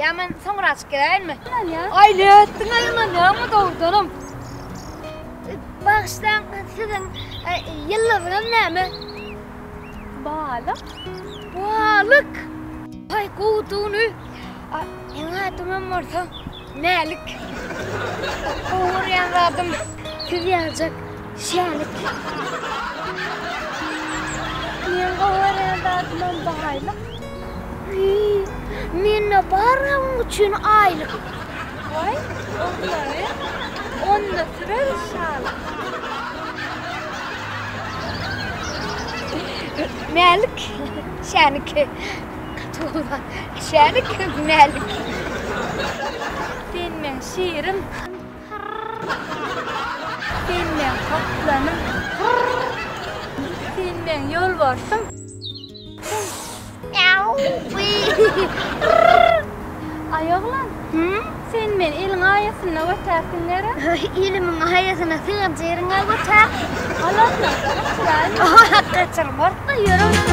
Ýa men soňra açyp geleýinmi? Aýly etdiň aýman ýaňmy dogrudanam? Bagyşlaň siziň ýyldyzyňyz näme? Balyk. Balyk! Haý gowudygyny meň adymam bolsa Mälik. Gowy görýän zadym siz ýaljak. Şänik. Meň gowy görýän zadymam baýlyk. Wiý, mende bar oň üçin aýlyk. Waý, oglany onda sürer şalyk. Mälik, Şänik. Gaty gowy zat. Şänik, Mälik. Sen meň şirim. Sen meň gaplanym. Sen meň ýolbarsym. Aý oglan, sen meni iliň aýasynda götärsiň gerek? Ilimiň aýasyna sygan jeriňe götär. Alasyn, gaçyraýyn. Gaçyr, bor-da, ýör onda.